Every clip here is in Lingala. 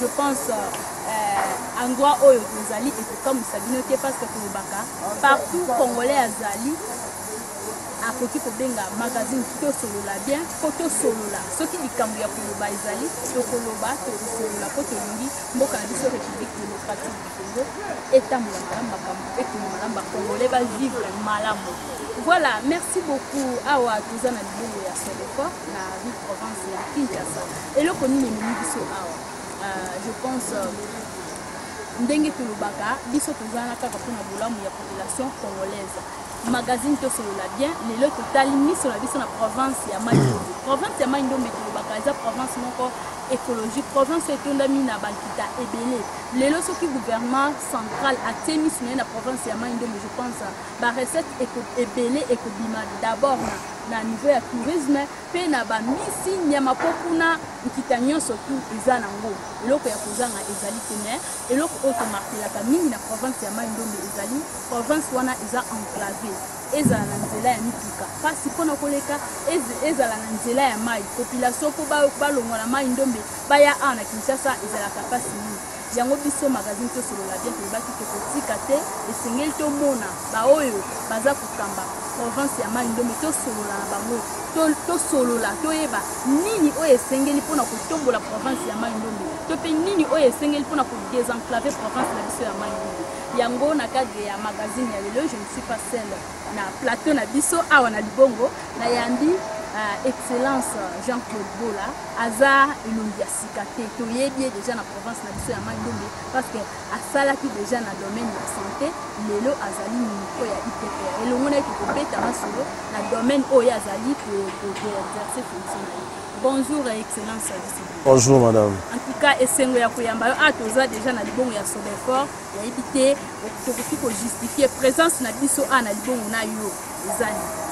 je pense euh, endroit oyo tozali ekokamwisa bino te parce que tolobaka partout congolais azali akoki kobenga magazine tosolola bien mpo tosolola soki likambo ya koloba ezali tokoloba tokosolola mpo tolingi mboka na biso république démocratique du congo etambola malamu makambo ekende malamu bacongolais bavivre malamu voilà merci beaucoup awa toza na libongo ya sodefort na rue provence ya kinshasa eloko nini ememi biso awa euh, je pense euh, ndenge tolobaka biso tozana kaka mpona bolamu ya population congolaise magazine tosolola bien lelo totali miso na biso na province ya mai ndombe province ya mai ndombe tolobaka eza province moko écologique province etondami na bankita ebele lelo soki gouvernement central atie miso na ye na province ya mai ndombe je pense barecette ebele ekobima d'abord na niveau ya tourisme pe na ba misi nyama po kuna nkita nyonso tu eza na ngo eloko ya kozanga ezali te me eloko oyo tomartelaka mingi na province ya mai ndombe ezali province wana eza enclave ezala na nzela ya mituka mpasi mpo na koleka ezala na nzela ya mai population mpo balongwa na mai ndombe baya awa na kinshasa ezalaka mpasi mingi yango biso magazine tosolola bien tolobaki tokotika te esengeli tomona baoyo baza kokamba province ya mai ndombe tosolola na bango tosolola to toyeba nini oyo esengeli mpo na kotombola province ya mai ndombe to mpe nini oyo esengeli mpo na kodesenclave province na biso ya mai ndombe yango na cadre ya magazine ya lelo je ne suis pas seule na plateau na biso awa na libongo nayambi uh, excellence jean-claude bola aza elongi ya sika te toyebi ye deja na province na biso ya mai ndombe parce que asalaki deja na domaine ya santé lelo azali moko ya idpr elongo na ye tokobeta masolo na domaine oyo azali koexerce fonction na ye bonjour excellence bonjour madame en tout cas esengo ya koyamba yo a ah, toza deja na libongo ya sobefort nayebi te tokoki ko justifier présence na biso a na libongo na yo eza nini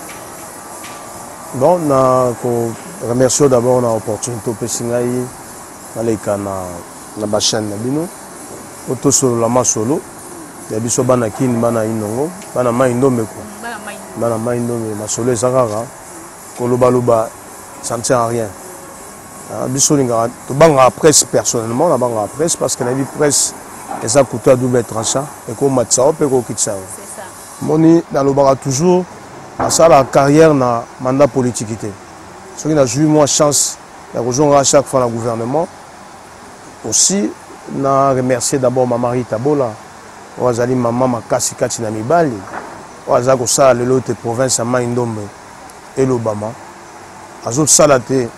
bon na ko remercie d'abord na opportunité opesi ngai naleka na na bachaine na bino po tosolola masolo ya biso bana kini bana inongo bana mai ndombe ko bana mai ndombe masolo eza kaka koloba loba ça ne sert à rien ah, biso olingaka tobangaka presse personnellement nabangaka presse parce que nayebi presse eza couteau ya double tranchant ekomatisa yo mpe ekokitisa yo moni nalobaka toujours nasalaka carrière na mandat politiki te soki nazwi mwa chance ya kozongaka chaque fois na gouvernement aussi na remercier d'abord mama rita bola oyo azali mama makasi kati na mibali oyo aza kosala lelo ete province ya mai ndombe elobama azosala te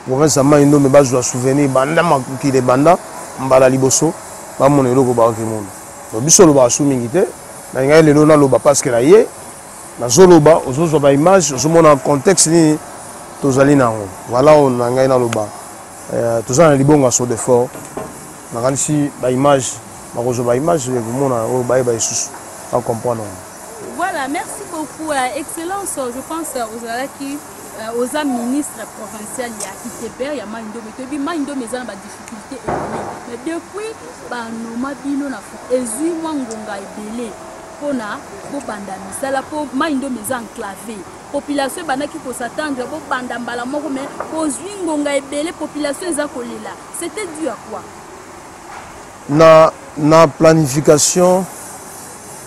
province ya mai ndombe bazwa souvenir banda mokili ebanda mbala liboso bamona eloko baoki mona donc biso olobaka su mingi te nalingaki lelo naloba parceke na ye nazoloba ozozwa baimage ozomona contexte nini tozali na yango vala oyo na ngai naloba euh, toza na libongo ya sodefort nakanisi baimage bakozwa baimage ekomona oyo bayeba lisusu acomprendre yango Voilà, merci beaucoup. Euh, Excellence, je pense que euh, Ozalaki, euh, Oza ministre provincial, il y a Iteber, il y a Maïndome. Tu dis Maïndome, ils ont des difficultés économiques. Mais depuis, bah, nous m'abîmons la faute. Et zui, moi, ngonga est belé. Pona, pour banda misala, pour Maïndome, ils ont enclavé. population ebandaki kosatandre bobanda mbala moko mai bozwi ngonga ebele population eza kolela c'était dû à quoi na, na planification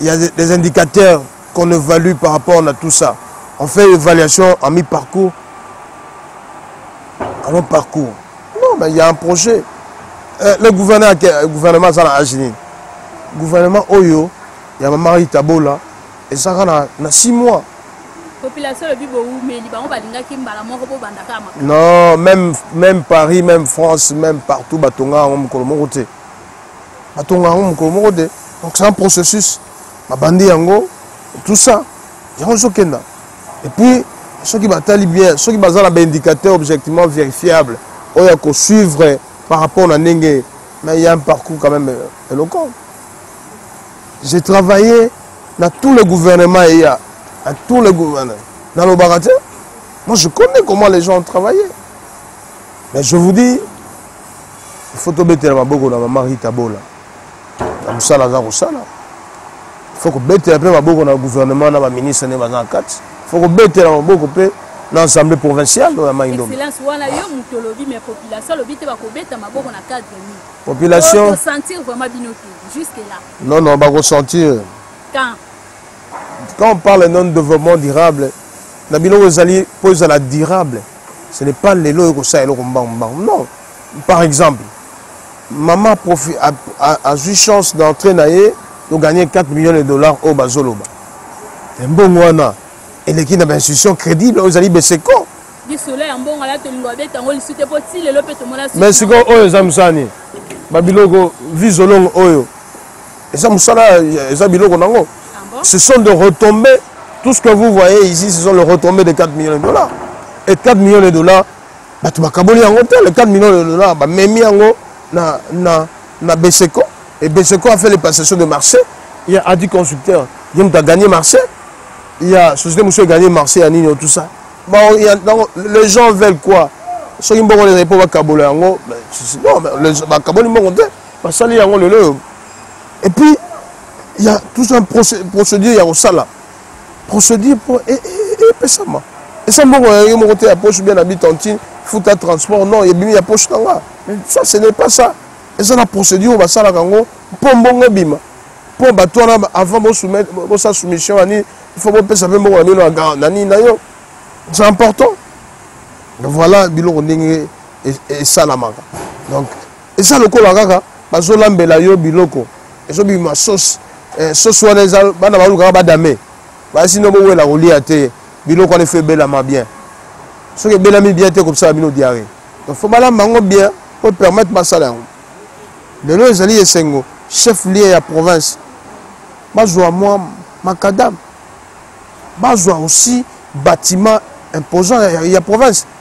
il y a des indicateurs qu'on évalue par rapport à tout ça. On fait l'évaluation en mi-parcours, en long parcours. Non, mais il y a un projet. Euh, le gouvernement, le gouvernement, ça a agi. Le gouvernement, Oyo, il y a Marie Tabola, et ça a six mois. population lobi bowumeli bango balingaki mbala moko bobandaka ya makolo non même, même paris même france même partout batonga yango mokolo moko te batonga yango mokolo moko te donc c'est un processus babandi yango tout ça yango ezokenda et puis soki batali bien soki baza na baindicateur objectivement vérifiable oyo akosuivre par rapport na ndenge mais il y a un parcours quand même éloquent euh, j'ai travaillé dans tous les gouvernements il y a à tous les gouvernements dans le baratin moi je connais comment les gens ont travaillé mais je vous dis faut tobetela maboko na mama rita bola na mosala aza kosala faut kobetela mpe maboko na gouvernement na baministre nde baza na kati faut kobetela maboko mpe na assemblée provinciale oyo ya mai ndombe wana yo moto olobi mais population alobi te bakobeta maboko na cadre ni population sentir vraiment bino te jusque là non non bakosentir quand quand on parle non développement durable na biloko ezali mpo ezala durable ce n'est pas lelo oyo kosala eloko mbangu mbangu non par exemple mama profi azwi chance d'entrée na ye toganye 4 millions de dollars oyo bazoloba mbongo wana eleki na bainstitution crédible oyo ezali beseko mais sikoyo oyo eza mosala nini babiloko visolongo oyo eza musala eza biloko nango ah ce sont de retomber tout ce que vous voyez ici ce sont le retomber de 4 millions de dollars et 4 millions de dollars bato bakaboli yango te le 4 millions de dollars bamemi yango na, na, na beseco et beseco a fait les passations de marché il y a adi consulteur ye moto agagné marché il y a société mosusu egagné marché ya nini tout ça bon, y a, donc, les gens veulent quoi soki mbongo ezali mpo bakabola yango bakaboli mbongo te basali yango lelo oyo et puis il y a tout un procédure ya kosala procédure mpo e, e, e, epesama esa mbongo ya ye moko te ya poche bien abi tantine futa transport non ebimi ya poche na nga ça ce n'est pas ça eza na procédure oyo basalaka yango mpo mbongo ebima mpo bato wana avant bosa soumission ya nini il faut bopesa mpe mbongo na bino na nini na yo c'est important voilà biloko ndenge esalamaka donc eza lokola kaka bazolambela yo biloko ezobima sauce eh, sauce wana eza bana balukaka badame basi no bowela kolia te biloko wana efo ebelama bien soki ebelami bien te ekobisala bino diare donc fo balamba yango bien po permettre basala yango lelo ezali esengo chef lieu ya province bazwa mwa makadame bazwa aussi bâtiment imposant ya, ya province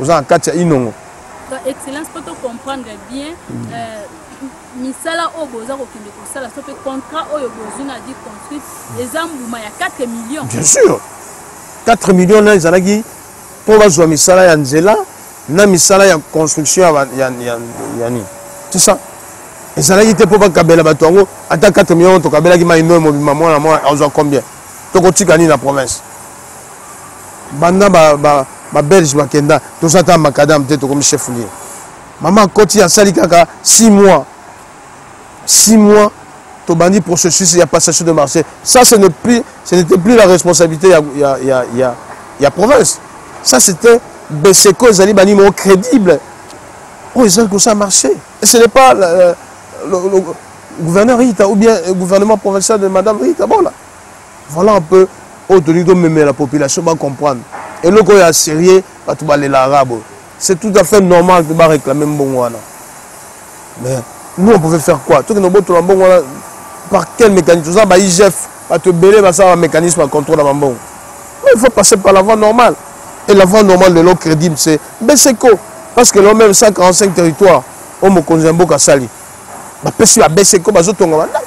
oza na kati ya inongo excellence mpo tocomprendre bien mm. euh, misala oyo boza kokende kosala so mpe contrat oyo bozwi na vie construite mm. eza mbuma ya 4 million bien sûr 4 million na ezalaki mpo bazwa misala ya nzela na misala ya construction ya nini tout ça ezalaki te mpo bakabela bato yango ata 4 million tokabelaki mai noyo mobima mwana mwana azwa combien tokotika nini na province banda ba, ba, ba belge bakenda toza ata macadam te tokomi chef lieu mama akoti asali kaka 6 mois 6 mois tobandi processus ya passation de marché ça ce n'est plus ce n'était plus la responsabilité ya, ya, ya, ya, ya province ça c'était beseco ezali banimo crédible oyo oh, ezali kosala marché et ce n'est pas euh, le, le, le gouverneur rita ou bien euh, gouvernement provincial de madame rita bon là voilà un peu oyo tolingi tomemela population bacomprendre eloko oyo ya sérieux bato balela arabe oyo c'est tout à fait normal mpe baréclame mbongo wana mais nous on pouvait faire quoi tokende obotola mbongo wana par quel mécanisme oza baigf bato ebele basala bamécanisme ya contrôle ya bambongo mais il faut passer par la voie normale et la voie normale lelo crédible c'est mbeseko parce que lelo même 145 territoire oyo mokonzi ya mboka asali bapesi babeseko bazotonga bandako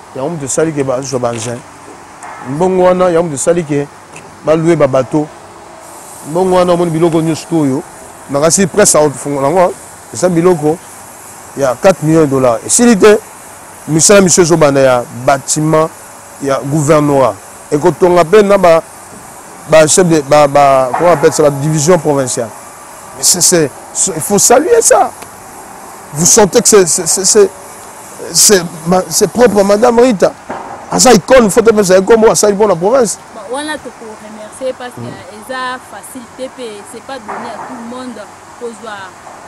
yango moto esali ke bazwa baengin mbongo wana yango moto esali ke balue babato mbongo wana omoni biloko nyonso to oyo makasi presse aofungola yango eza biloko ya 4 millions de dollars esili te misala misu ezobanda ya bâtiment ya gouvernorat ekotonga mpe na ba ba chef de ba ba comment appelle ça ba division provinciale c'est il faut saluer ça vous sentez que c'est c'est propre madame rita aza icone faut topesa ekombo asali mpo na province wana tokoremercie parce que mm. eza facile te mpe c'est pas donné à tout le monde kozwa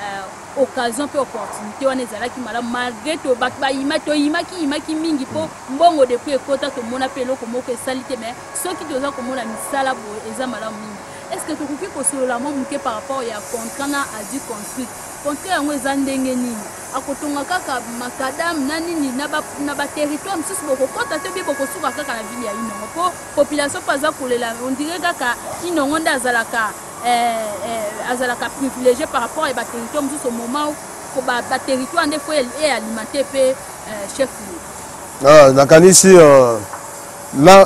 euh, occasion mpe opportunité wana ezalaki malamu malgré to bato bayima toyimaki yimaki mingi mpo mm. mbongo depuis ekota tomona mpe eloko moko esali te mais soki toza komona misala boye eza malamu mingi est ce que tokoki kosolola mwa moke par rapport ya contrat na adu construit Contrat yango eza ndenge nini? Akotonga kaka macadam na nini na ba, na ba territoire mosusu bokokota te bie bokosuka kaka na ville ya Inongo po population po aza kolela on dirait kaka Inongo nde azalaka eh, eh, azalaka privilégié par rapport à ba territoire mosusu au moment où ba, ba territoire nde faut e alimenter pe eh, chef lieu. Ah, nakanisi uh, na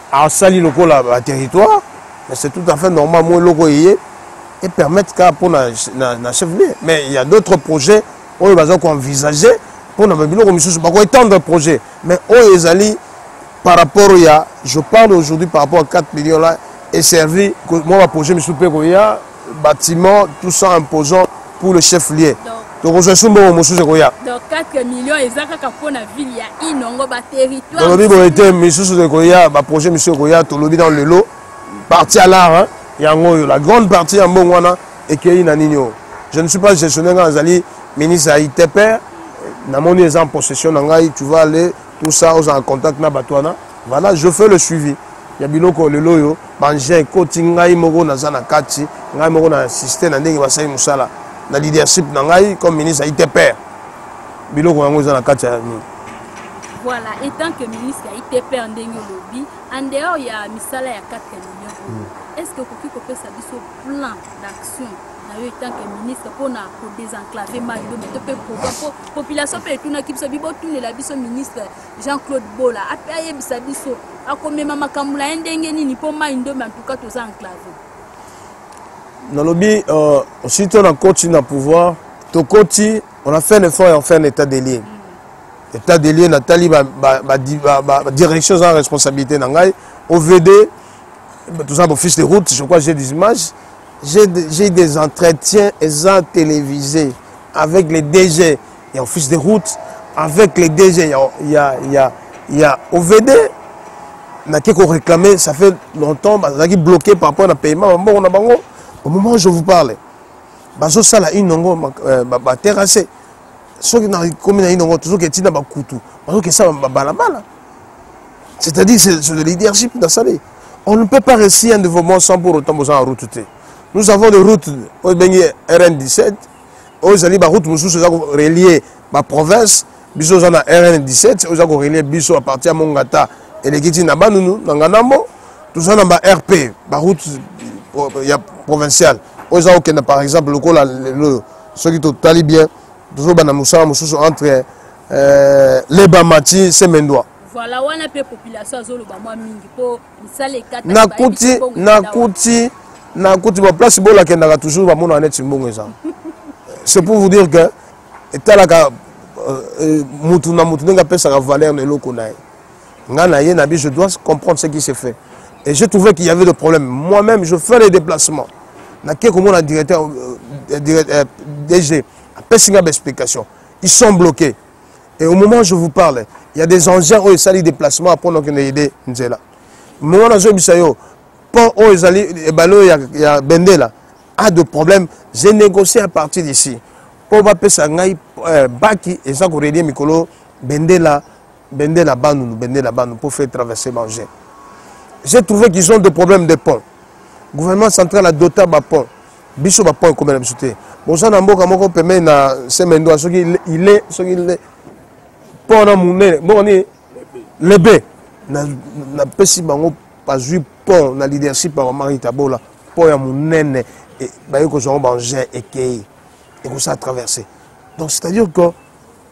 asali lokola ba territoire mais c'est tout à fait normal moi eloko eye et permettre kaka mpo na, na, na chef lieu mais il y a d'autres projets oyo baza koenvisage mpo na babiloko mosusu bakoétendre projet mais oyo ezali par rapport ya je parle aujourd'hui par rapport à 4 millions là eservi mwa baprojet mosusu mpe koya bâtiment tout ça imposant pour le chef lieu tokozwa esu mbongo mosusu ekoya tolobi boye te misusu ekoya baprojet misusu ekoya tolobi nano lelo parti ya lar yango oyo la grande partie ya mbongo wana ekei na nini oyo je ne suis pas gestionnaire ngai nazali ministre ya itpr namoni eza en possession na ngai tu vas aller tout ça ozala contact na bato wana Voilà, je fais le suivi. ya biloko lelo oyo bangin ekoti ngai moko naza na kati ngai moko na insiste na ndenge basali mosala na leadership na ngai comme ministre ya itpr biloko yango eza na kati ya nini voilà etant que ministre ya itpr ndenge olobi en dehors ya misala ya 4 million hmm. est ce que okoki kopesa biso plan d'action na yo etant que ministre mpona kodesenclave mayo mpe mpe population mpe etunaki biso bibotunela biso ministre Jean-Claude Bola ape ayebisa biso akomema makambo na ye ndenge nini mpo mai ndombe antuka toza enclave nalobi euh, soki to na koti na pouvoir tokoti on a fait l'effort ya faire un état des lieux mm. état des lieux natali badirection eza na responsabilité na ngai ovd toza bofiche de route je crois j'ai des images j'ai des entretiens eza télévisé avec les dg ya office de route avec les DG ya, ya, ya, ya OVD nake koréclame ça fait longtemps bazalaki bloqué par rapport na paiement ya mbongo na bango au moment où je vous parle bazosala inongo euh, baterrasse soki nakomi na inongo tozoki etina bakutu bazoki esala babalabala c'est-à-dire c'est de leadership nasali on ne peut pas réussir un développement sans pour autant besoin ya route te nous avons des routes oyo ebengi rn 17 oyo ezali baroute mosusu eza korelie baprovince biso oza na rn 17 oyo eza korelie biso apartir ya mongata eleki ti na banunu na nganambo toza na barp baroute ya provinciale oyo eza kokenda par exemple lokola lelo oyo soki totali bien tozobanda mosala mosusu entre euh, lebamati semendwa voilà wana mpe population azoloba mwa mingi mpo nakuti nakuti nakuti baplace bola akendaka toujours bamonaka neti mbongo eza c'est pour vous dire que etalaka euh, euh, mutu na mutu ndenge apesaka valeur na eloko na ye nga na ye na bi je dois comprendre ce qui se fait et j'ai trouvé qu'il y avait de problème moi-même je fais les déplacements nake komona directeur euh, dg apesi nga baexplication ils sont bloqués et au moment je vous parle il y a des engins oyo esali déplacement apres nakende yede nzela moment nazoyebisa yo pont oyo ezali ebale oyo ya, ya bendela a de problème j'ai négocié à partir d'ici mpo bapesa ngai euh, baki eza korelie mikolo bendela bendela banunu bendela banu mpo faire traverser banger j'ai trouvé qu'ils ont de problème de pont gouvernement central adota bapont biso ba point ekomela biso te boza na mboka moko pembeni na semendwa soki ile soki ile pont na monene mboka nini lebe napesi bango bazwi pont na leadership ya bamari tabola pont ya monene e, baye kozwa yango baengin ekei ekosala traverse donc c'est à dire que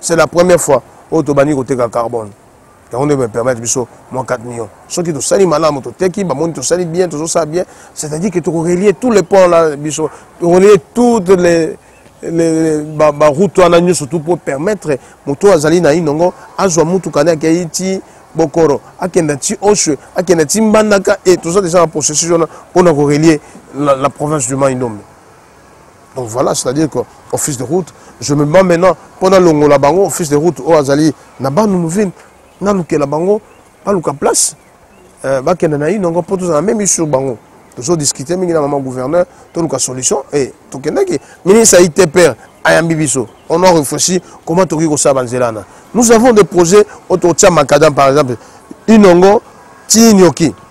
c'est la première fois oyo tobandi koteka carbone yango nde bapermettre biso mwa 4 millions soki tosali malamu toteki bamoni tosali bien tozosala bien c'est-à-dire que tokorelie tout le pont la biso tokorelie toutes les baroute wana nyonso tu mpo permettre moto oyo azali na inongo azwa motuka nde akei ti bokoro akenda ti oswe akenda ti mbandaka e toza deja na processus wana mpo na korelie la, la province du mai ndombe donc voilà c'est à dire que office de route je me bats maintenant mpo nalongola bango office de route oyo azali na banunuvine nalukela bango baluka place euh, bakende na ino yango mpo tozala meme sur bango tozodiscute mingi na mama gouverneur toluka solution e tokendaki ministre ya itpr ayambi biso on a réfléchi comment tokoki kosala banzela wana nous avons des projets oyo tokotia macadam par exemple inongo ti nioki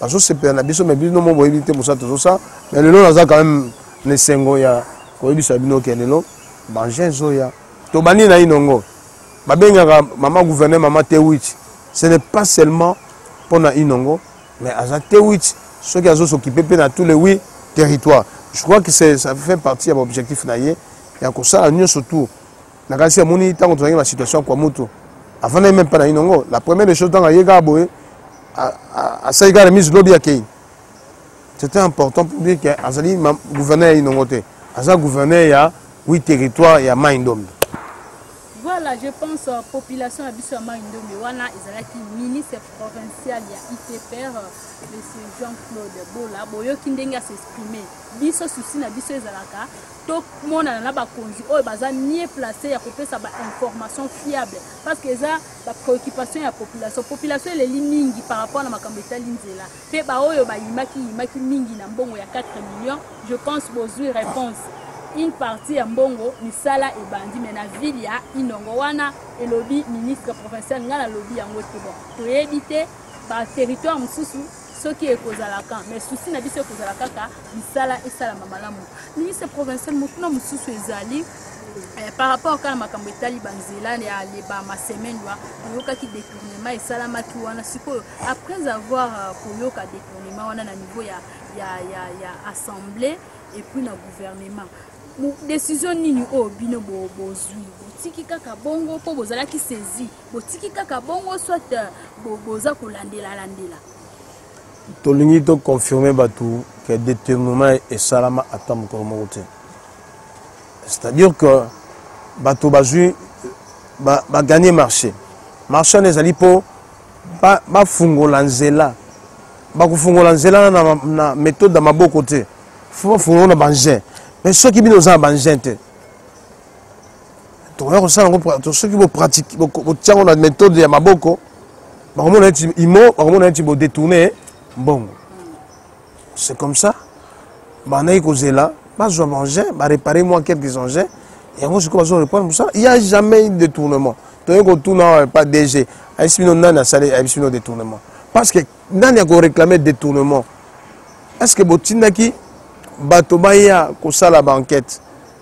bazosepela na biso me bino mo boyebi te mosala tozosa me lelo naza quand même na esengo ya koyebisa bino ke lelo banje ezoya tobandi na inongo babengaka mama gouverneur mama tewich ce n'est pas seulement mpo na inongo mais aza tewich soki azosokipe mpe na tous les huit territoire je crois que ça fait partie ya baobjectif na ye ya kosala nyonso tour nakasi amoni ntango tozalaki na situation ya kwa mutu afandaki meme mpe na inongo la première des choses ntango aye kaka boye asali kaka remise lobi akei c'était important pour dire que azali gouverneur ya inongo te aza gouverneur ya wi territoire ya mai ndombe voilà je pense euh, population ya biso ya mai ndombe wana ezalaki ministre provincial ya itpr monsieur jean claude bola boyoki ndenge asexprime biso susi na biso ezalaka tomonana na bakonzi oyo baza mieux place ya kopesa bainformation fiable parce que eza bapréoccupation ya population population eleli mingi par rapport na makambo etali nzela mpe baoyo bayimaki yimaki mingi na mbongo ya 4 millions je pense bozwi réponse une partie ya mbongo misala ebandi me na ville ya inongo wana elobi ministre provincial ngai nalobi yango te bon toyebi te baterritoire mosusu soki ekozala kan mais souci na biso ekozala kaka misala esalama malamu ministre provincial motuna mosusu ezali Eh, par rapport kaka na makambo etali banzela ya leba masemaine wa oyokaki détournement esalamaki wana sikoyo après avoir euh, koyoka détournement wana na niveau ya, ya, ya, ya assemblée et puis na gouvernement décision nini oyo bino bozwi botiki kaka bongo mpo bozalaki saisi botiki kaka bongo soit euh, boza kolandela landela tolingi toconfirme bato ke détournement esalama ata mokolo moko te c'est-à-dire que bato bazwi baganye ba marché marché wana ezali mpo bafungola ba nzela bakofungola nzela na, na méthode ya maboko te fo bafungola na bangin mais soki bino oza na bangin te tokoya kosala yango soki botia yango na méthode ya maboko bakomona neti imo bakomona neti bodetourne mbongo c'est comme ça bandaki kozela bazwa baengin barépare mwa quelques engins yango sikoyo bazo reprendre mosala il y a jamais eu détournement toyei kotuna awa epa dg ayebisi bino nani asali ayebisi bino détournement parce que nani akoréclame détournement est ce que botindaki bato baya kosala baenquête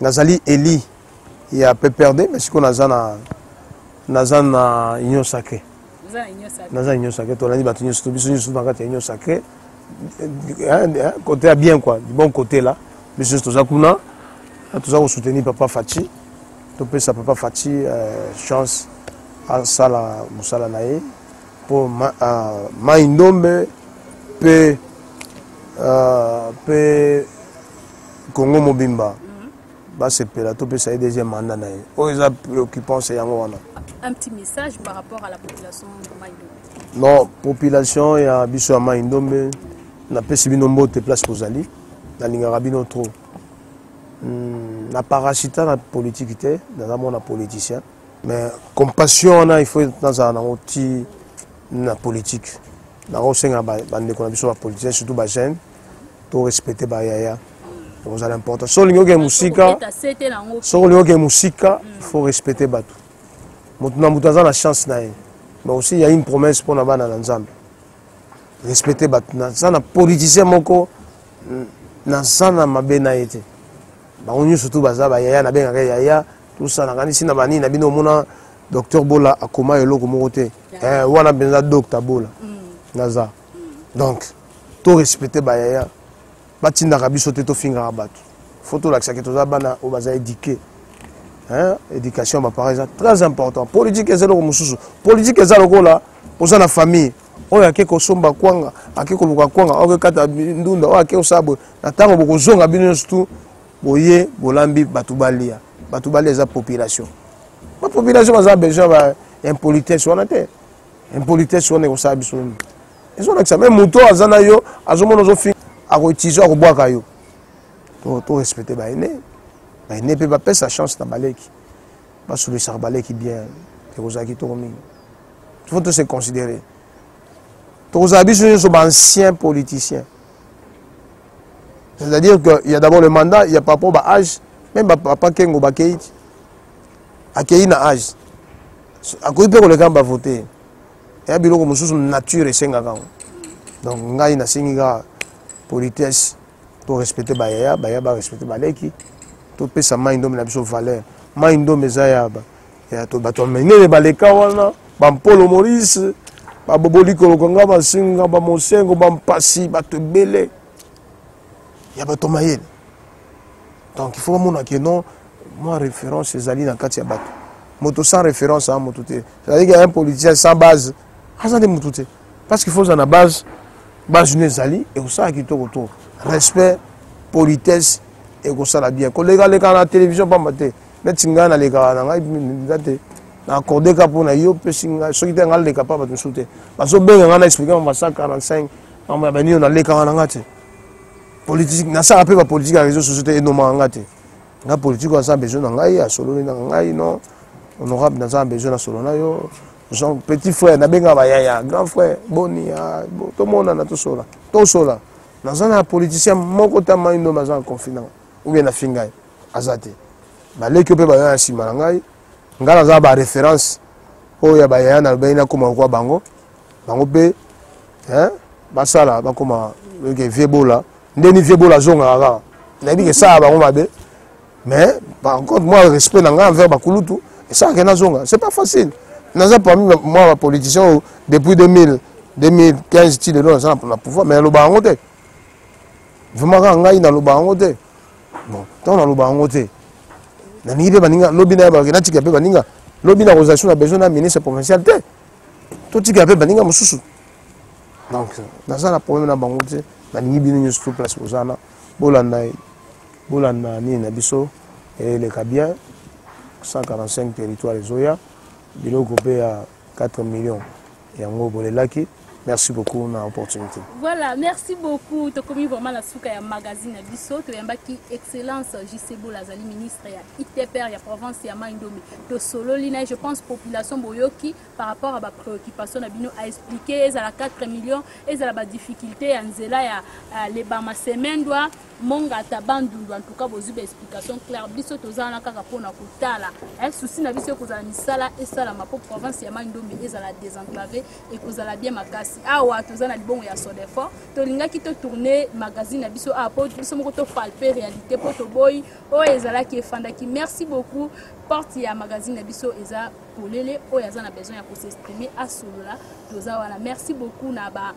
nazali eli ya pprd mais sikoyo naza na naza na union sacré naza union sacré tolandi bato nyonso to biso nyonso na kati ya union sacré côté ya bien quoi du bon côté là biso nyonso toza kuna toza kosoutenir papa faci topesa papa faci euh, chance asala mosala na ye mpo mai ma euh, ndombe mpe mpe euh, congo mobimba basepela topesa ye deuxième manda na ye oyo eza préoccupance yango wana un petit message par rapport à la population ya mai ndombe non population ya biso ya mai ndombe napesi bino mbote place bozali nalingaka bino trop hmm, na parasita na politiki te naza mwana politicien mais compassion wana il faut nazala nango ti na politiki nakosenga bandeko na biso bapoliticien surtout bajeune to respecter ba yaya ekozala important soki olingi okende mosika soki olingi okende mosika il faut respecter bato moto na moto aza na chance na ye mais aussi ya une promesse mpo na bana na nzambe respecter bato naza na politicien moko naza na mabe na ye te bango nyonso tu baza bayaya nabengaka yaya tosa nakanisi na banini na bino omona docteur bola akoma eloko moko te eh, wana mpenza docta bola mm. naza donc to respecte bayaya batindaka biso te tofingaka bato fo tolakisaki toza bana oyo baza édike éducation ya baparent eza très important politike eza eloko mosusu politike eza lokola oza na famille oyo ake kosomba kwanga ake koluka kwanga oyo akekata ndunda oyo ake kosala boye na ntango bokozonga bino nyonso tu boye bolambi bato balia bato balia eza population bapopulation baza besoin ba impolitesse wana te impolitesse wana ekosala biso nini ezolakisa me moto oyo aza na yo azomona ozofinga akoutilize akobwaka yo to respecte baine baine mpe bapesa chance na baleki basololesaka baleki bien ekozala kitoko mingi faut to se considérer tokozala biso nyonso baancien politicien c'est-à-dire que ya d'abord le mandat ya par rapport baage même bapapa kengo bakei ti akei na age akoki mpe koleka na bavote ya biloko mosusu nature esengaka yango donc ngai nasengi kaka politesse torespecte bayaya baya barespecte baleki topesa mai ndombe na biso valeur mai ndombe eza ya bato ya minene baleka wana bampolo morise babobolikoloka nga basinga bamosengo bampasi bato ebele ya bato mayele donc il faut bamona ke non mwa référence ezali na kati ya bato moto sans référence a moto te ezali ke un politicien sans base aza nde moto te parce qu'il faut oza na base base no ezali ekosala kitoko to respect politesse ekosala bien kolekaleka na télévision mpamba te neti ngai nalekaka na ngai mpenza te na accorde ka mpo na yo mpesi ngai soki te ngai naleka mpa bato mosusu te bazobenga ngai na explike mama 145 mambo ya banino nalekaka na nga te politique nasala mpe bapolitique ya réseau société enomaka nga te nga politique oyo aza besoin na ngai asololi na ngai non honorable naza besoin na solo na yo jean petit frère nabengaka bayaya grand frère boni ah, tomonana tosola tosola naza na politicien moko ta maindo aza na conflit nanga oubien na fingai aza te baleki yo mpe bayaya nsima na ngai ngai naza na baréférence oyo ya bayaya nalobeli nakoma lokwa bango bango mpe hein, basala bakoma ke vieux bola nde ni vieux bola azongaka kaka nayebi kesala bango mabe mais par contre moi respect na ngai envers bakulutu esalaka ye nazonga c'est pas facile naza parmi moi bapoliticien oyo depuis 2000 2015 ti lelo naza na pouvoir mais naloba yango te vraiment kaka ngai naloba yango te bon ntango naloba yango te nalingi mpe baninga lobi na ye bakena tika mpe baninga lobi nakozala so na besoin na ministre provincial te totika mpe baninga mosusu donc naza na problème na bango te nalingi bino nyonso to place bozana bolanda bolanda nini na biso eleka bien 145 territoire ezoya biloko mpe ya 4 millions yango bolelaki merci beaucoup na opportunité voilà merci beaucoup tokomi vraiment na suka ya magazine na biso toyambaki excellence jcebol azali ministre ya itpr ya province ya mai ndombe tosololi na ye je pense population boyoki par rapport à bapréoccupation na bino aexplike ezala 4 millions ezala badifficulté ya nzela ya uh, lebama semendwa mongata bandundu en tout cas bozwi baexplication claire biso toza wana kaka mpo na kotala eh, susi na biso ekozala misala esalama mpo province ya mai ndombe ezala désenclave ekozala bien makasi awa toza na libongo ya sodefort tolingaki totourne magazine na biso awa mpo biso moko topalpe réalité mpo toboyi oyo ezalaki efandaki merci beaucoup porte ya magazine na biso eza polele oyo aza na besoin ya kosexprime asolola toza wana merci beaucoup na ba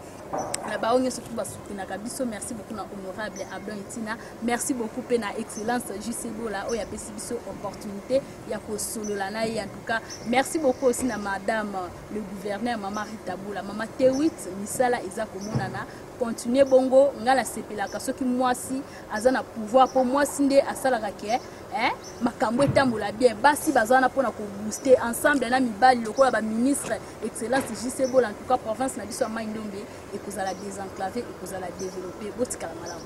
na baoyo nyonso tu basutenaka biso merci beaucoup na honorable abdon etina merci beaucoup mpe na excellence jusebola oyo apesi biso opportunité ya kosolola na ye en tout cas merci beaucoup aussi na madame le gouverneur mama ritabola mama tewit misala eza komonana continue bongo ngai nasepelaka soki mwasi aza na pouvoir mpo mwasi nde asalaka ke eh, makambo etambola bien basi baza wana mpona kobooste ensemble na mibali lokola baministre excellence jc bola en tout cas province na biso ya mai ndombe ekozala désenclave ekozala développe botikala malamu